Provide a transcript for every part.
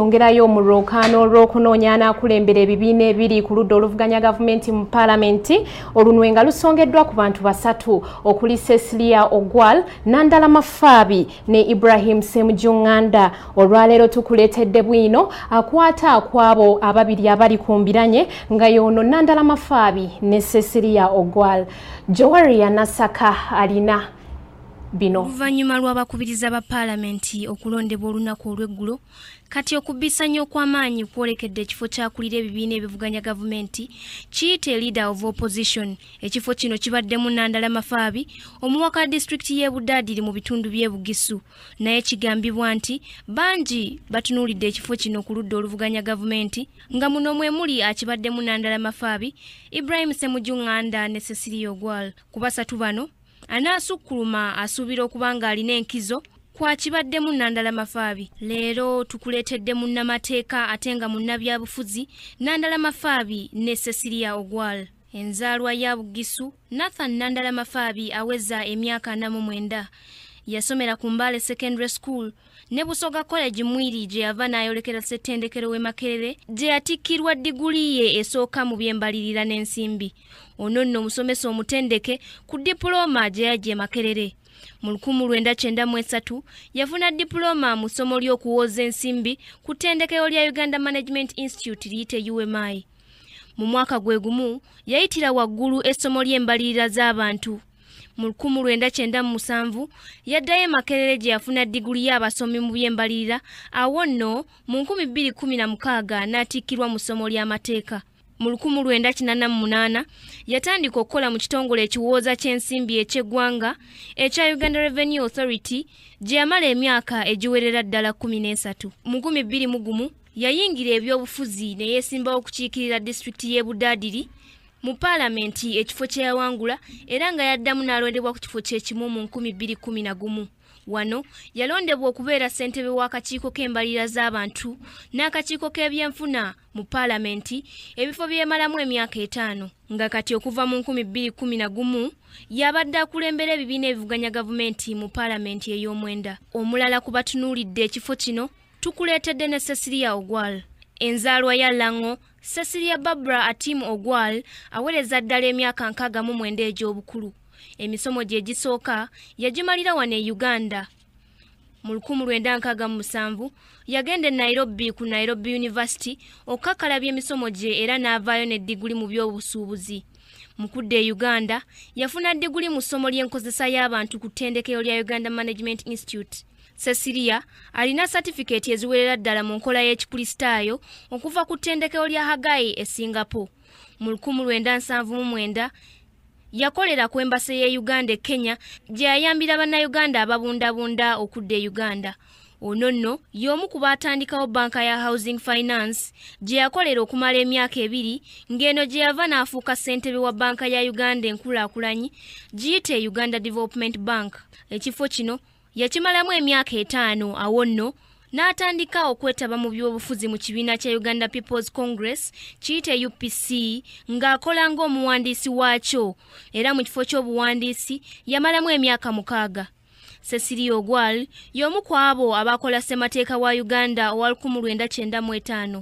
yongerayo mu lwokaano olw'okunoonya anaakulembera ebibiina ebiri ku ludda oluvuganya gavumenti mu paalamenti olunwe nga lusongeddwa ku bantu basatu okuli cecilia ogwal nandala mafaabi ne ibrahim semujunganda olwaleero tukuleetedde bwino akwata akwabo ababiri abali ku mbiranye nga yoono nandala mafaabi ne cecilia ogwal jowari ya nasaka alina bino oluvannyuma lw'abakubiriza ba paalamenti okulondebwa olunaku olw'eggulo kati okubbisanya okw'amaanyi kwolekedde ekifo kyakulira ebibiina ebivuganya gavumenti kiyite leader of opposition ekifo kino kibaddemu nandala mafaabi omuwaka wa disitulikiti y'e budaadiri mu bitundu by'e bugisu naye kigambibwa nti bangi batunuulidde ekifo kino ku ludda oluvuganya gavumenti nga muno mwe muli akibaddemu nandala mafaabi ibrahim semuju nganda ne cecilia ogwal ku basatu bano anaasukkuluma asuubira okuba ng'alina enkizo kwakibaddemu nandala mafaabi leero tukuleetedde munnamateeka ate nga munnabyabufuzi nandala mafaabi ne cecilia ogwal enzaalwa ya bugisu nathan nandala mafaabi aweza emyaka ana mu mwenda yasomera ku mbaale secondary school ne busoga college mwiri gye yava n'ayolekera ssettendekero w'e makerere gye yatikkirwa diguli ye esooka mu by'embalirira n'ensimbi ono nno omusomesa omutendeke ku dipulooma gye yajja e makerere mu 1993 yafuna dipulooma mu ssomo ly'okuwooza ensimbi ku ttendekero lya uganda management institute liyite umayi mu mwaka gwe gumu yayitira waggulu essomo ly'embalirira z'abantu mu 1997 yaddayo emakerere gye yafuna diguli y'abasomi mu by'embalirira awo nno mu 2016 n'atikkirwa mu ssomo ly'amateeka mu 1988 yatandika okukola mu kitongole ekiwooza ky'ensimbi eky'eggwanga ekya uganda revenue authority gye yamala emyaka egiwerera ddala 13 mu 2001 Yayingira ebyobufuzi ne yeesimbawo okukiikirira disitulikiti y'e Budaadiri mu paalamenti ekifo kye yawangula era nga yaddamu n'alondebwa ku kifo kye kimu mu nkumi bbiri kkumi na gumu. Wano yalondebwa okubeera ssentebe w'akakiiko k'embalirira z'abantu n'akakiiko k'ebyenfuna mu paalamenti ebifo byemalamu emyaka etaano nga kati okuva mu nkumi bbiri kkumi na gumu yabadde akulembera ebibiina ebivuganya gavumenti mu paalamenti ey'omwenda. Omulala ku batunuulidde ekifo kino tukuleetedde ne cecilia ogwal enzaalwa ya lango cecilia barbara atim ogwal awereza ddala emyaka nkaaga mu mwenda egy'obukulu emisomo gye gisooka yagimalira wano e uganda mu 1967 yagenda e nairobi ku nairobi university okukakalabya emisomo gye era n'avaayo ne diguli mu by'obusuubuzi mu kudda e uganda yafuna diguli mu ssomo ly'enkozesa y'abantu ku ttendekero lya uganda management institute Cecilia alina satifikeeti eziwerera ddala mu nkola y'Ekikristaayo okuva ku ttendekero lya Haggai e Singapore. Mu 1979 yakolera ku embase y'e Uganda e Kenya gye yayambira Bannayuganda ababundabunda okudda e Uganda. Ono nno y'omu ku baatandikawo bbanka ya Housing Finance gye yakolera okumala emyaka ebiri ng'eno gye yava n'afuuka ssentebe wa bbanka ya Uganda enkulaakulanyi giyite Uganda Development Bank. Ekifo kino yakimalamu emyaka etaano awo nno n'atandika okwetaba mu by'obufuzi mu kibiina kya uganda peoples congress kiyite upc ng'akola ng'omuwandiisi waakyo era mu kifo ky'obuwandiisi yamalamu emyaka mukaaga cecilia ogwal y'omu ku abo abaakola ssemateeka wa uganda owa 1995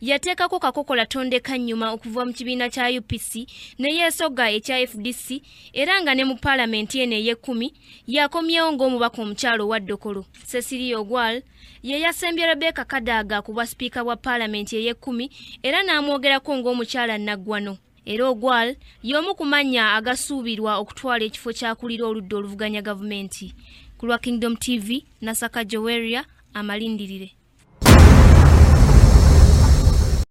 yateekako kakokola tondeka nnyuma okuva mu kibiina kya upc ne yeesogga ekya fdc era nga ne mu paalamenti eno ey'ekkumi yakomyewo ng'omubaka omukyalo owa ddokolo cecilia ogwal ye yasembye rebeka kadaaga ku bwa sipiika bwa paalamenti ey'ekkumi era n'amwogerako ng'omukyala nnaggwano era ogwal y'omu ku mannya agasuubirwa okutwala ekifo kyakulira oludda oluvuganya gavumenti ku lwa kingdom tv nasaka joweria amalindirire